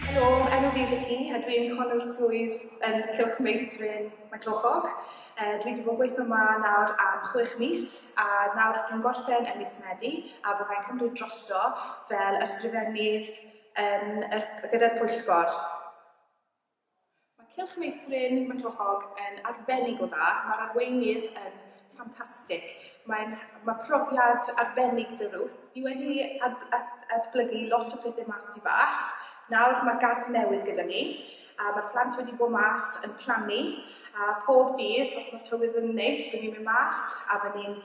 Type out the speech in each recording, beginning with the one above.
Helo, enw fi Vicky a dwi'n honwr plwyf yn Cylch Meithrin Maenclochog. Uh, dwi wedi bod yn gweithio yma nawr am chwech mis a nawr dwi'n gorffen yn mis Medi a byddai'n cymryd drosto fel ysgrifennydd yn, er, gyda'r pwyllgor. Mae cylch meithrin Manglochog yn arbennig o dda, mae'r arweinydd yn ffantastig. Mae'n... mae profiad arbennig 'da Ruth. Ni wedi adblygu lot o pethe mas tu fas, nawr mae gardd newydd gyda ni, a mae'r plant wedi bod mas yn plannu, a pob dydd, os mae tywydd yn neis, by ni'n mynd mas a by ni'n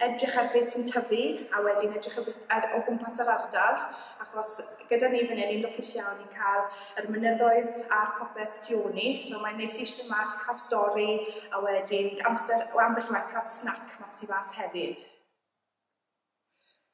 edrych ar beth sy'n tyfu a wedyn edrych ar beth ar, o gwmpas yr ardal achos gyda ni fan hyn ni'n lwcus iawn i cael yr mynyddoedd a'r popeth tu ôl ni so mae'n neis i eistedd mas cael stori a wedyn amser o ambell waith cael snac mas tu fas hefyd.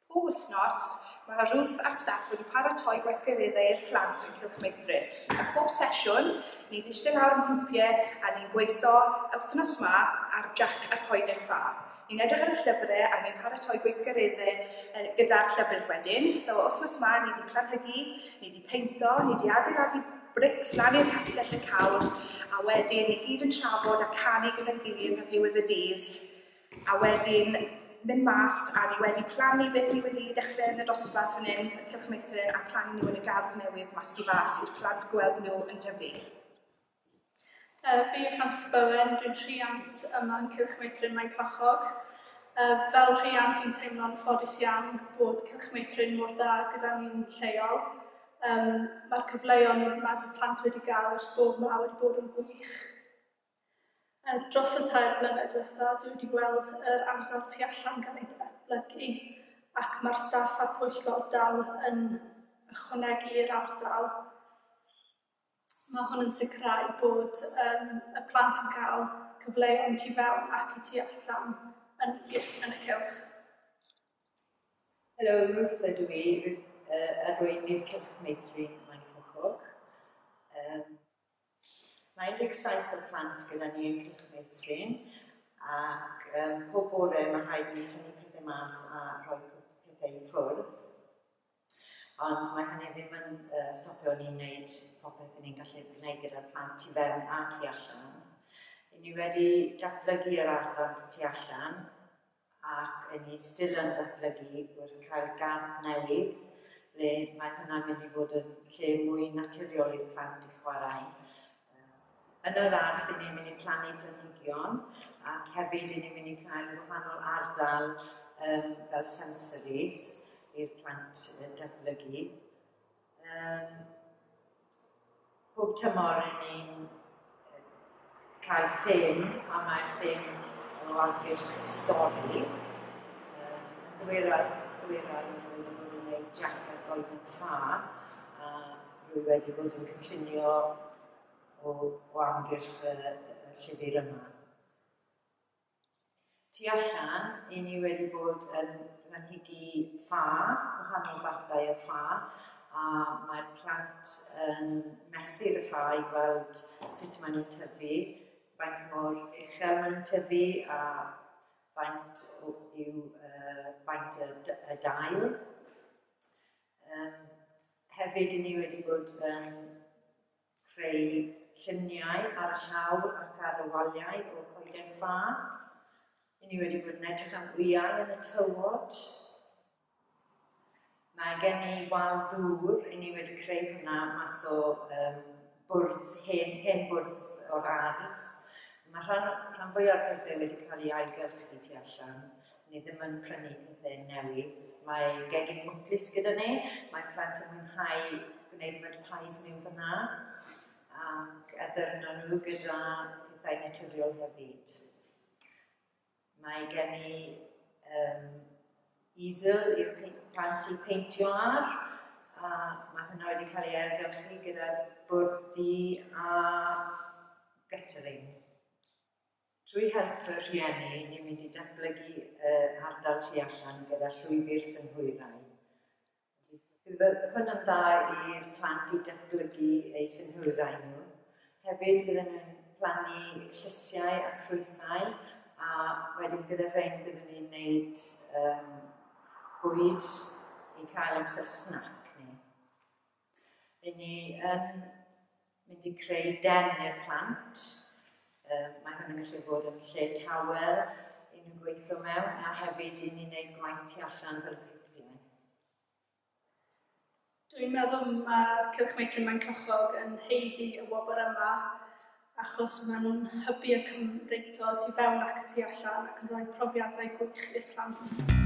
Pob wythnos mae Ruth a'r staff wedi paratoi gweithgareddau i'r plant yn Cylch Meithrin. A pob sesiwn, ni'n eistedd lawr yn grwpiau a ni'n gweithio wythnos ma ar Jack a'r Coeden Ffa. Ni'n edrych ar y llyfre a ni'n paratoi gweithgaredde yy gyda'r llyfryn wedyn, so wthnos ma ni di planhegu, ni di peinto, ni di adeiladu brics lan i'r castell y cawr, a wedyn ni gyd yn trafod a canu gyda'n gilydd ar ddiwedd y dydd, a wedyn mynd mas a ni wedi plannu beth ni wedi dechre yn y dosbarth fan hyn yn Cylchmeithrin a plannu nhw yn y gardd newydd mas tu fas i'r plant gweld nhw yn tyfu. Yy fi yw Frances Bowen, dwi'n rhiant yma yn Cylch Meithrin Maenclochog. Yy fel rhiant fi'n teimlo'n ffodus iawn bod Cylch Meithrin mor dda gyda ni'n lleol. Yym ma'r cyfleon ma' fy plant wedi ga'l ers bod 'ma wedi bod yn wych. Yy dros y tair blynedd dwetha dwi wedi gweld yr ardal tu allan ga'l ei datblygu ac ma'r staff a'r pwyllgor dal yn ychwanegu'r ardal. Mae hwn yn sicrhau bod yym y plant yn cael cyfleon tu fewn ac y tu allan yn y yn y cylch. Helo, Ruth ydw i, a rwy'n i'r Cylch Meithrin Maen Coch. Um, mae 17 o plant gyda ni yn Cylch Meithrin, ac um, pob bore mae rhaid ni tynnu pethau mas a rhoi pethau i ffwrdd. Ond mae hynny ddim yn stopio ni'n wneud popeth i ni'n gallu gwneud gyda'r plant tu fewn a tu allan. I ni wedi datblygu yr arfant tu allan ac yn ni still yn datblygu wrth cael gardd newydd le mae hwnna'n mynd i fod yn lle mwy naturiol i'r plant i chwarae. Yn yr ardd i ni'n mynd i plannu planhigion ac hefyd i ni'n mynd i cael wahanol ardal um, fel sensory i'r plant uh, datblygu. Um, pob tymor i ni'n cael thym a mae'r thym o amgylch stori. Um, yn ddiweddar, ddiweddar i ni'n wedi bod yn gwneud Jack a Golden Ffa a Rwy wedi bod yn cyllunio o, o amgylch y, y llyfr yma. Tu allan, i ni wedi bod yn planhigi ffa, gwahanol fathau o ffa, a mae'r plant yn mesur y ffa i gweld sut maen nhw'n tyfu, faint mor uchel maen nhw'n tyfu a faint yw uh, faint y, y dail. Yym, hefyd, i ni wedi bod yn creu lluniau ar y llawr ac ar y waliau o coeden ffa. I ni wedi bod yn edrych am wyau yn y tywod. Mae gen i wal ddŵr, i ni wedi creu hwnna mas o um, bwrdd, hen, hen bwrdd o'r ardd. Mae rhan, rhan fwy o'r pethau wedi cael ei ailgylchu tu allan. Ni ddim yn prynu pethau newydd. Mae gegin mwclis gyda ni. Mae plant yn mwynhau gwneud mud pies mewn fyna ac addurno nhw gyda pethau naturiol hefyd. Mae gen i um, easel i'r plant i peintio ar a mae hynna wedi cael ei ergylchu gyda bwrdd di a guttering. Trwy helpu rhieni, ni'n mynd i datblygu y ardal tu allan gyda llwybr synhwyrau. Bydd hwn yn dda i'r plant i datblygu eu synhwyrau nhw. Hefyd byddwn ni'n plannu llysiau a ffrwythau a wedyn gyda rhain byddwn ni'n gwneud um, bwyd i cael amser snac ni. Ry'n ni yn mynd i creu den i'r plant. Um, mae hynny'n gallu bod yn lle tawel i nhw gweithio mewn a hefyd i ni wneud gwaith tu allan fel grwpiau. Dwi'n meddwl mae Cylch Meithrin Mae'n Cychog yn heiddi y wobr yma achos maen nhw'n hybu y Cymreictod tu fewn ac y tu allan ac yn rhoi profiadau gwych i'r plant.